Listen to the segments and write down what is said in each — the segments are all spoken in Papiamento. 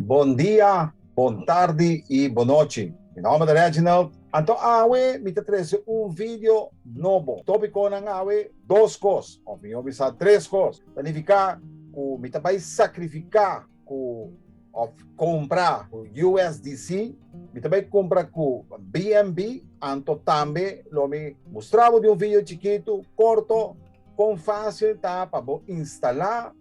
Bon dia, bon tardi y bon nochi. Mi nomber ta Reginald. Anto awe mi ta trece un video nobo. Topiconan awe, dos cos, of mijo bisa tres cos. Ta nifica cu mi ta bay sacrifica. ku of kompra ku USDC, mi ta bai kompra ku BNB, anto tambe lo mi mustra bo di un video chikitu, korto, kon fásil ta pa bo instalá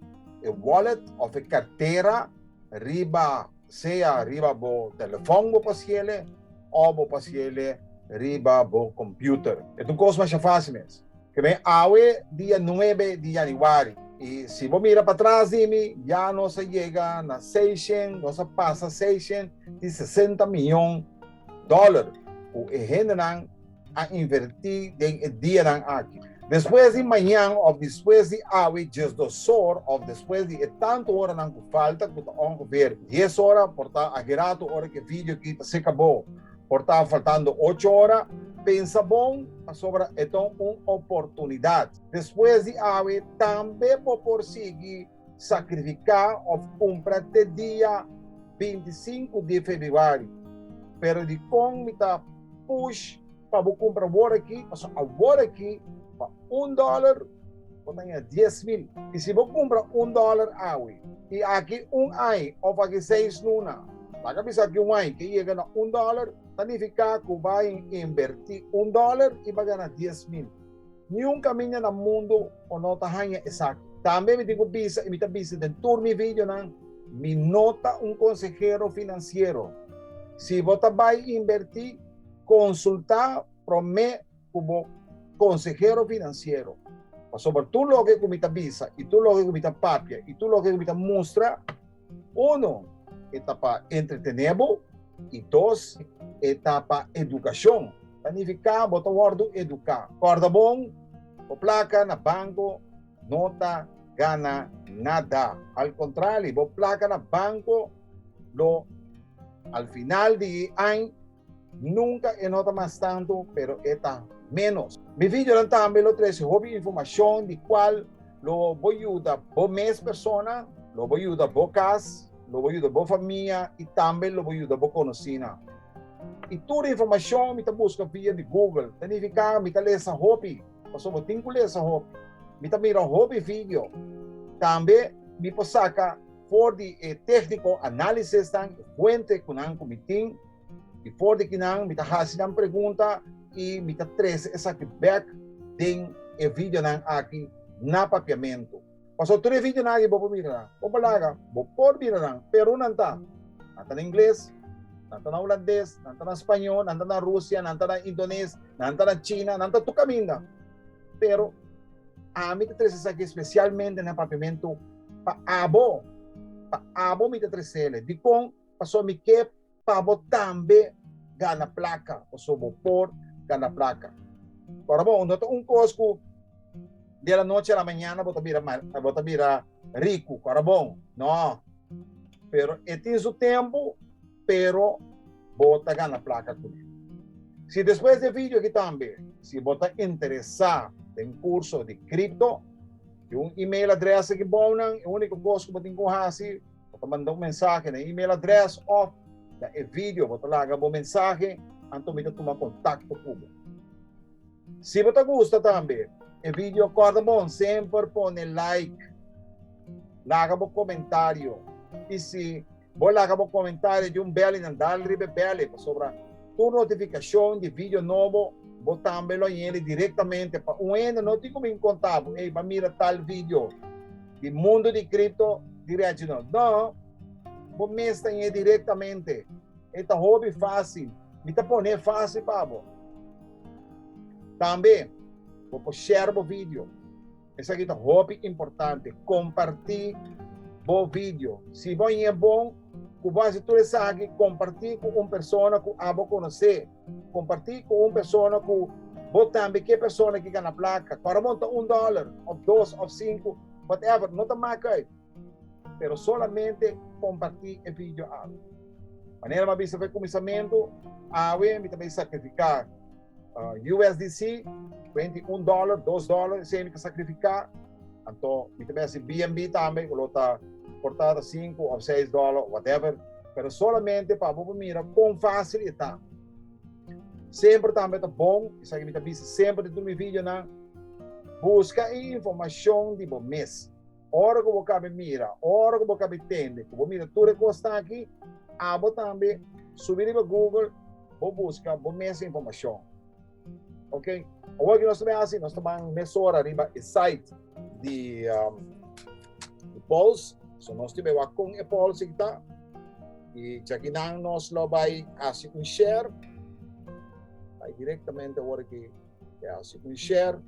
e wallet of e kartera riba sea riba bo telefòn bo por hasiele o bo por hasiele riba bo kompüter. E ta un kos masha fásil mes. Kibè awe dia nuebe di yanüari i si bo mira patras di mi, ya nos a yega na seishent, nos a pasa seishent di sesenta mion dòler ku e hendenan a invertí den e dianan aki. Despues di mañan òf despues di awe djes dos or òf despues di e tantu oranan ku falta, ku ta ongefeer dies ora, por ta a geratu ora ku e vidio aki ta seka bo. Por ta faltando ocho ora, pensa bon, pasobra e ta un oportunidat. Despues di awe tambe bo por sigui sakrifiká òf kumpra te dia binti i sinku di febrüari. Pero dikon mi ta push pa bo kumpra aworakí? Paso aworakí pa un dòler. Bo ta haya dies mil. Y si bo cumpra un dollar awe y aki un ai of aki seis luna baca bisa cu un ai ke yega na un dollar, ta nifica cu bo a inverti un dollar y bo a gana dies mil. Niun caminda na mundo bo no ta haya esaki. Tambe mi tin cu bisa y mi ta bisa den tur mi videonan, mi no ta un consehero financiero. Si bo ta bay inverti, consulta prome. ku bo konsehero finansiero. Pasobra tur loke ku mi ta bisa i tur loke ku mi ta papia i tur loke ku mi ta mustra, uno, e ta pa entretené bo i dos, e ta pa edukashon. Ta nifiká bo ta wòrdu eduká. Kòrda bon, bo plaka na banko no ta gana nada. Al kontrali, bo plaka na banko lo al final di e añ. Nunka e no ta mas tantu, pero e ta ménos. Mi videonan tambe lo trese hopi informashon di kual lo bo yuda bo mes persona, lo bo yuda bo kas, lo bo yuda bo famia i tambe lo bo yuda bo konosínan. I tur e informashon mi ta buska via di Google, ta nifiká mi ta lesa hopi, pasobra tin ku lesa hopi. Mi ta mira hopi video. Tambe mi por saka for di e tékniko análisesnan, fuente ku nan ku mi tin. I for di kinan mi ta hasi nan pregunta i mi ta trese esaki bek den e videonan aki na Papiamentu. Paso tur e videonan aki bo por mira nan. Bo por laga, bo por mira nan. Peru nan ta, nan ta na ingles, nan ta na hulandes, nan ta na spañó, nan ta na Rusia, nan ta na indones, nan ta na china, nan ta tur kaminda. Pero ami ta trese esaki spesialmente na Papiamentu pa abo. Pa abo mi ta tresele. Dikon? Paso mi ke pa bo tambe gana plaka, paso bo por gana plaka. Ora bon, no ta un kos ku di la noche a la mañana bo ta bira bo ta bira riku, ora bon, no. Pero e tin su tempu, pero bo ta gana plaka kuné. Si despues di e vidio aki tambe, si bo ta interesá den kurso di kripto, di un email adrès aki bou nan, e úniko kos ku bo tin ku hasi, Bo ta manda un mensahe na e email adres of na e video bo ta laga bo mensahe anto mi ta tuma kontakto ku bo. Si bo ta gusta tambe e video Korda Bon semper pone like, laga bo komentario i si bo laga bo komentario di un beli nan dal riba e beli pasobra tur notifikashon di video nobo bo tambe lo yende direktamente pa un hende no tin ku bin konta bo, ey, ban mira tal video. Di mundu di kripto direchi no. No, bo mes ta ñe direktamente. E ta hopi fásil. Mi ta pone fásil pa bo. Tambe bo por share bo video. Esaki ta hopi importante. Kompartí bo video. Si bo a ñe bon ku bo a hasi tur esaki, kompartí ku un persona ku abo konosé. Kompartí ku un persona ku bo tambe ke persona ki gana plaka. Kòrda bo unta un dòler òf dos òf sinku, whatever, no ta mak uit. Pero solamente kompartí e vidio awe. Manera mi a bisa e kuminsamentu, awe mi ta bin sakrifiká USDC, kuenti un dòler, dos dòler, esei mi ta sakrifiká. Anto mi ta mester BNB tambe ku lo ta por ta ta sinku of seis dòla of whatever pero solamente pa bo por mira kon fasil e ta. Semper tambe ta bon, esaki mi ta bisa semper di tur mi videonan, buska e informashon di bo mes. Ora ku bo kabe mira, ora ku bo kabe tende, ku bo mira tur e kos ta aki, abo tambe subi riba Google, bo buska bo mes e informashon. Ok, awor ki nos ta bin hasi, nos ta ban mesora riba e site di um, Pulse, so nos ta bewa kon e Pulse ki ta, i chakinan nos lo bai hasi un share, bai directamente awor ki e hasi un share,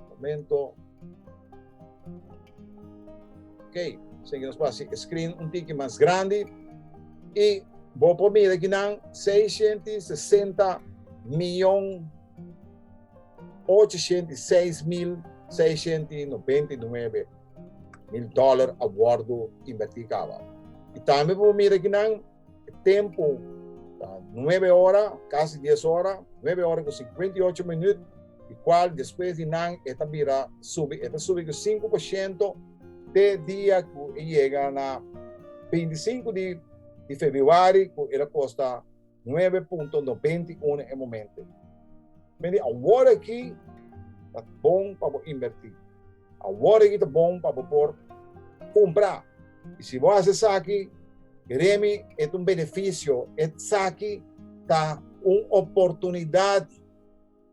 momento, Ok, sen que nos puede hacer screen un tiki más grande. Y vos por mira que nan 660 millones 806 mil 699 mil dólar a bordo invertir cava. Y también por mira que nan Tempo ta nuebe ora, kasi dies ora, nuebe ora ku sinkuenta i ocho minüt, di kual despues di nan e ta bira subi, e ta subi ku sinku por shento te dia ku e yega na beinti i sinku di februari ku el a kosta nuebe punto nobenta i uno e momente. Mi di awor aki ta bon pa bo invertí. Awor aki ta bon pa bo por kumpra. I si bo hasi esaki, Remi, e ta un benefisio, esaki ta un oportunidat.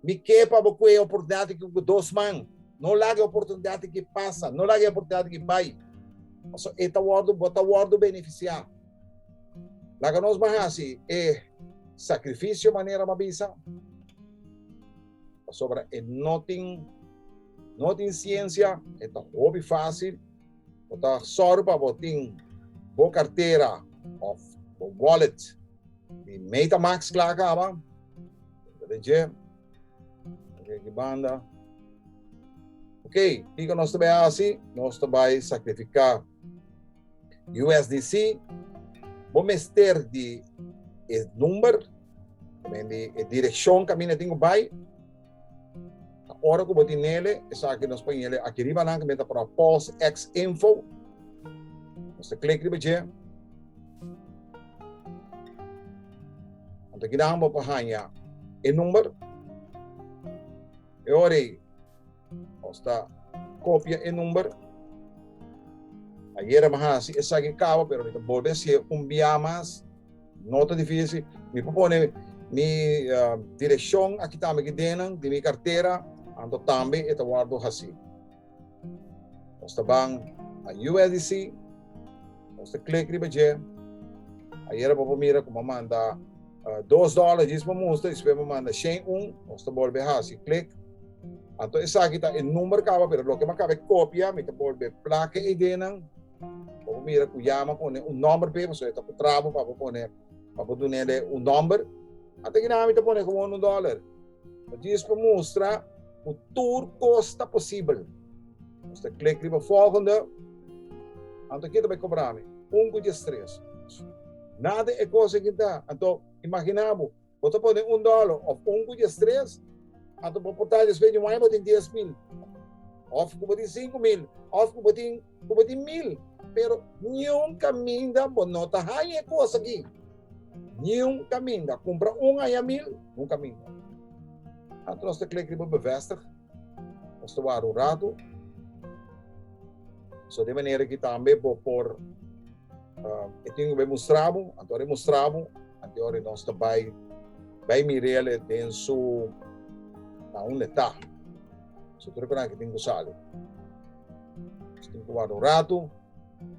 Mi ke pa bo kue e oportunidat aki ku dos man. No laga e oportunidat aki pasa, no laga e oportunidat aki bai, pasobra e ta wòrdu, bo ta wòrdu benefisiá. Laga nos bo hasi e sakrifisio manera bo a bisa. Pasobra e no tin, no tin ciencia, e ta hopi fácil. Bo ta sòru pa bo tin bo cartera of bo wallet di Metamask kla a kaba. Punta di dje, Oké, ki banda. Oké, kiko nos ta bai hasi? Nos ta bai sakrifika USDC. Bo mester di e number. También de e dirección que mina tengo bay. Ahora que botin nele, esa que nos ponen nele aquí arriba nan que meta para pulse x info. Nos clic riba je. Anto que dan bo pa hanya e number. E ore Nos ta kopia e number. Ayera mi a hasi esaki kaba, pero mi ta bolbe a hasié un biaha mas. No ta difísil. Mi por pone mi direkshon aki tambe ki dennan di mi kartera, anto tambe e ta wòrdu hasí. Nos ta ban na USDC, nos ta klik riba dje. Ayera bo por mira ku bo a manda dos dòla, djis bo musta i despues bo manda shen un. Nos ta bolbe a hasi klik. Anto esaki ta e number kaba pero loke mi a kaba e kopia mi ta bolbe plaka e idenan bo por mira ku ya mi a pone un number p'e pasobra e ta ku trabo pa bo pone pa bo dun'el e un number. Ante ki nada mi ta pone komo unu dòler. Mi djis pa mustra ku tur kos ta posibel. Nos ta klik riba volgende. Anto ken ta bai kobra mi? Un ku djes tres. Nada e kos aki ta. Anto imagina bo Bo ta pone un dòlor òf un kuchi estres, anto bo por ta despendi un aña bo tin dies mil, òf ku bo tin sinku mil, òf ku bo tin ku bo tin mil. Pero niun kaminda bo no ta haña e kos aki. Niun kaminda. Kumpra un aña mil, niun kaminda. Anto nos ta kere kri bo bevèstig, nos ta wara un ratu. So den manera ki tambe bo por. Uh, e tin ku bai mostrabo, anto ore mostrabo, anto ore nos ta bai bai mirele den su na un leta. So tur kan ke tin ku sale. Tin ku wado rato.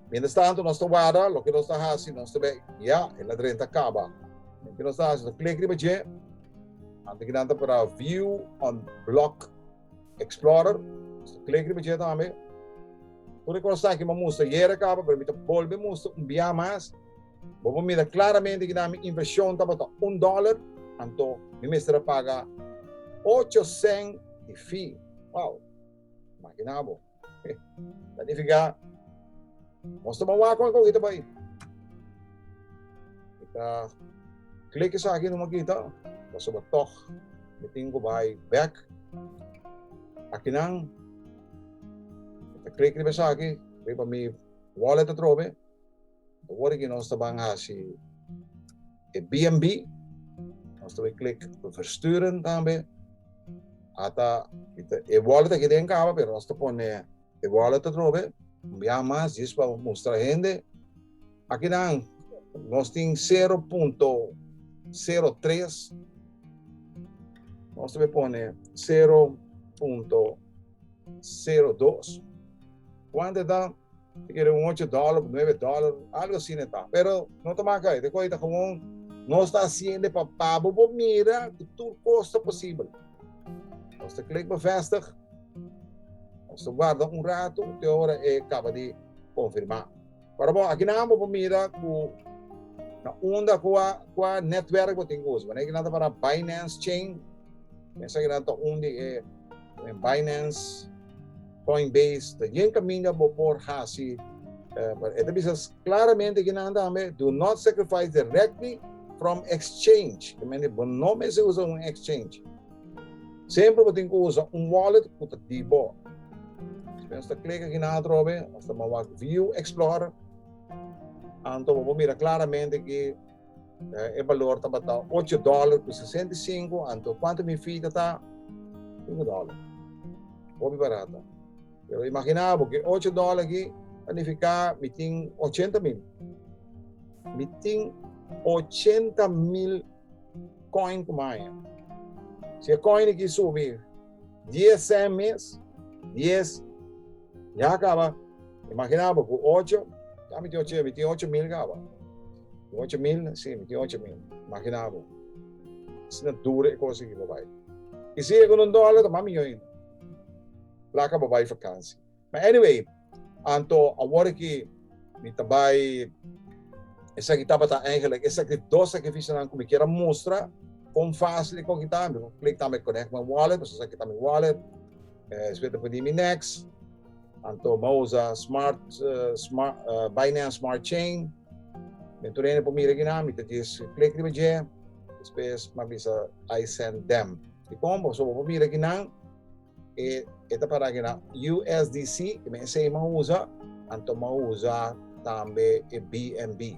Mientras tanto nos ta wada, lo ke nos ta hasi, nos ta bai, ya, el adren ta kaba. Ke nos ta hasi, to klik riba je, anto ki nan ta para view on block Explorer, Mister Clay griba dje tambe. Tur e kos aki bo a mustra yere kaba, pero mi ta bolbe mustra un biaha mas. Bo por mira klaramente kina mi invershon tabata un dòler, anto mi mester a paga ocho sèn di fee. Wow! Imagina bo. Ta nifiká, Nos ta ban wak oi, i ta bai. I ta klek esaki i no mon kita, pasobra tòg mi tin ku bai bèk. Akinan ta klek riba esaki riba mi wòlet atrobe. Awor ki nos ta ban hasi e BNB, nos ta bai klik pa versturen tambe. Ata i ta e wallet aki den kaba pero nos ta pone e wallet atrobe, mbia mas djis pa mustra hende. Akinan nos tin sero punto sero tres, nos ta bai pone sero punto sero dos, kuantu e ta? Te kere un ocho dòler òf nuebe dòler, algu asina e ta. Pero no ta maka ei. Te ku ei ta gewoon nos ta hasiende pa babo bo mira ku tur kos ta posibel. Nos ta klik bevestig, nos ta guarda un ratu te ora e kaba di konfirmá. Ora bon, aki nan bo por mira ku na unda kua kua nètwèrk bo tin ku usa. Manera kinan ta pará Binance Chain, esaki nan ta un di e Binance. Coinbase ta yen caminda bo por haci, pero e ta bisa claramente aquí nan tambe, do not sacrifice directly from exchange. Ta mester di bo no mester usa un exchange. Semper bo tin cu usa un wallet cu ta di bo. Nos ta click aquí nan atrobe, nos ta mawak view explorer. Anto bo por mira claramente aquí. E balor tabata ocho dòler ku sesenta i sinku, anto kuantu mi fi tata? Sinku dòler. Hopi barata. Pero imaginá bo ku e ocho dòler aki ta nifiká mi tin ochenta mil. Mi tin ochenta mil kòin ku maña. Si e kòin aki subi dies sèn mes, dies ya kaba. Imagina bo cu ocho, ta mi tin ocho, mi tin ocho mil caba. Tin ocho mil, si, mi tin ocho mil. Imagina bo. Asina duro e cosa aki pa bai. Y si e con un dollar ta mas miyo ainda. Placa pa bai vakansi. Ma anyway, anto awor aki mi ta bai, esaki tabata eigenlijk esaki e dos sacrificionan cu mi kier a mustra con facil e con ki ta. Mi por click na mi connect my wallet, pasobra esaki ta mi wallet. Despues ta pudi mi next. Anto bo usa smart smart Binance Smart Chain. Mi tur hende por mira aki nan, mi ta djis klik riba dje, despues mi a bisa I send them. Dikon bo? So bo por mira aki nan, e e ta para aki nan USDC, esei mi a usa, anto mi a usa tambe e BNB.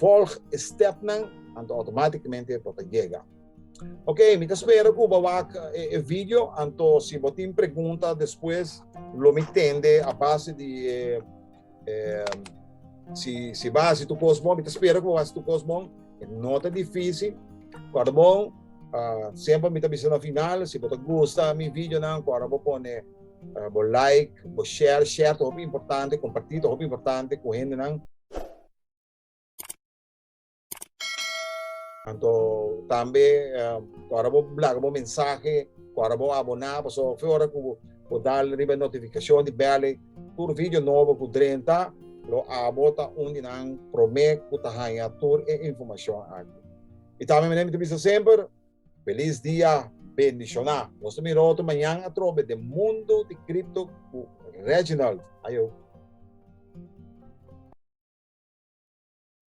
Volg e step nan anto automaticamente bo ta yega. Ok, mi ta spera cu bo wak e, e video, anto si bo tin pregunta despues lo mi tende a base di e Um, si, si va hace tu cos bon, mi te espera que va hace tu cos bon. No te difícil. Corda bon, uh, siempre mi te bisa na final, si te gusta mi video, nan, corda bo pone uh, bo like, bo share, share te hopi importante, compartir te hopi importante con gente, nan. Anto tambe ku ora bo laga bo mensahe, ku ora bo aboná, pasobra hopi ora ku bo dal riba e notifikashon di bel ei, tur vidio nobo ku drenta, lo abo ta un di nan promé ku ta haña tur e informashon aki. I tambe manera mi ta bisa semper, Felis dia bendishoná! Nos ta mira otro mañan atrobe den Mundu di Kripto ku Reginald. Ayo!